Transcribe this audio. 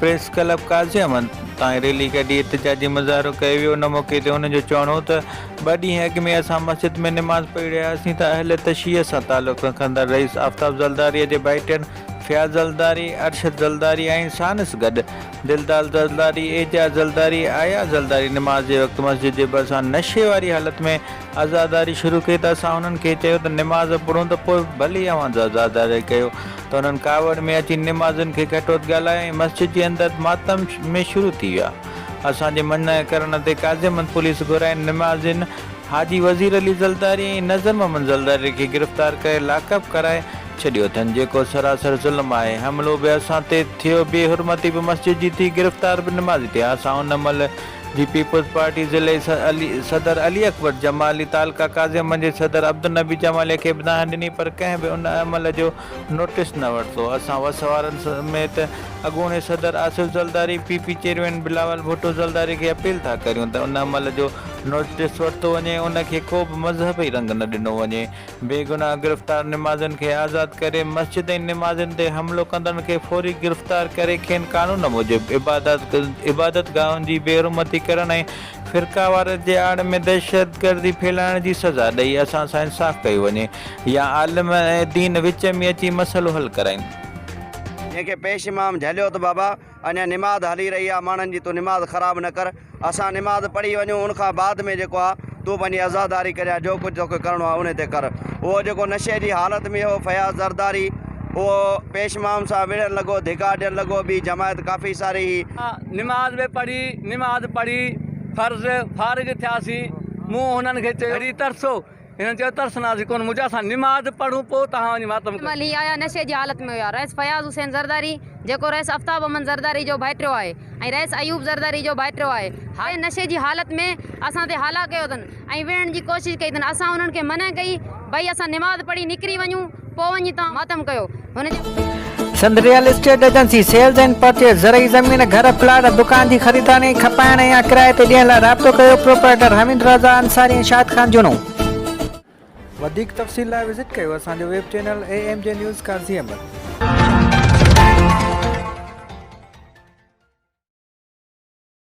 Press club Qazi Ahmed تائين rally ڪڍي احتجاجي مظاهرو ڪيو ويو ان موقعي تي هن جو چوڻ هو ته ٻه ڏينهن اڳ ۾ اسان مسجد ۾ نماز پڙهي رهيا هئاسين ته اهل تشيع سان تعلق رکندڙ رئيس آفتاب زلداريء جي ڀائٽين فياض زلداري، ارشد زلداري ۽ ساڻس گڏ دلدال زلداري، اعجاز زلداري، اياز زلداري نماز جي وقت مسجد جي ڀرسان نشي واري حالت ۾ عزاداري شروع ڪئي ته اسان هنن کي چيو ته نماز پڙهون ته پوء ڀلي اوهان عزاداري ڪيو ته انهن ڪاوڙ ۾ اچي نمازين کي گهٽوت ڳالهائي ۽ مسجد جي اندر ماتم ۾ شروع ٿي ويا. اسان جي منع ڪرڻ تي قاضيمند پوليس گهرائين نمازين حاجي وزير علي زلداري ۽ نظر محمد زلداري کي گرفتار ڪري لاڪ اپ ڪرائي ڇڏيو اٿن جيڪو سراسر ظلم آهي حملو به اسان تي ٿيو بي حرمتي به مسجد جي ٿي گرفتار به نمازي ٿيا اسان ان مهل جي پيپلز پارٽي ضلعي صدر علي اڪبر جمالي تعلقه ڪاظمن جي صدر عبدالنبي جمالي کي به دانهن ڏني پر ڪنهن به ان عمل جو نوٽيس نه ورتو اسان وس وارن سميت اڳوڻي صدر Asif Zardari P P chairman Bilawal Bhutto Zardari کي اپيل ٿا ڪريون ته ان عمل جو نوٽيس ورتو وڃي ان کي ڪو به مذهبي رنگ نه ڏنو وڃي بيگناهه گرفتار نمازين کي آزاد ڪري، مسجد ۽ نمازين تي حملو ڪندڙن کي فوري گرفتار ڪري کين قانون موجب عبادت گاهن جي بي حرمتي ڪرڻ ۽ فرقاواريت جي آڙ ۾ دهشتگردي ڦهلائڻ جي سزا ڏئي اسان سان انصاف ڪيو وڃي يا عالم دين وچ ۾ اچي مسئلو حل ڪرائين. جنهن کي پيش امام جهليو ته بابا اڃا نماز هلي رهي آ ماڻهن جي تون نماز خراب نه ڪر اسان نماز پڙهي وڃون ان کان بعد ۾ جيڪو آ تون پنهنجي عزاداري ڪريا جو ڪجهه توکي ڪرڻو آ ان تي ڪر اهو جيڪو نشي جي حالت ۾ هو فياض زرداري اهو پيش مام سان وڙهڻ لڳو ڌڪا ڏيڻ لڳو ٻي جماعت ڪافي ساري هي نماز به پڙهي نماز پڙهي فرض فارغ ٿياسين مون هنن کي چيو وري ترسو. هن چيو ترسناسي ڪونه مجهه اسان نماز پڙهون پوء توهان وڃي ماتم ڪريو. تنهن مهل هي آيا نشي جي حالت ۾ هيا رئيس فياض حسين زرداري جيڪو رئيس افتاب احمد زرداري جو ڀائٽيو آهي ۽ رئيس ايوب زرداري جو ڀائٽيو آهي هاء نشي جي حالت ۾ اسان تي هالا ڪيو اٿن ۽ وڙهڻ جي ڪوشش ڪئي اٿن اسان انهن کي منع ڪئي ڀئي اسان نماز پڙهي نڪري وڃون پوء وڃي تان ماتم ڪيو هن جي. Sindh real estate agency sales and purchase زرعي زمين، گهر، پلاٽ ۽ دڪان جي خريداري ۽ کپائڻ ۽ يا ڪرائي تي ڏيڻ لاء رابطو ڪيو پروپرائيٽر حميد رضا انصاري ۽ شاهد خان جنون. وڌيڪ تفصيل لاء وزٽ ڪيو اسان جو web channel A M G news Qazi Ahmed.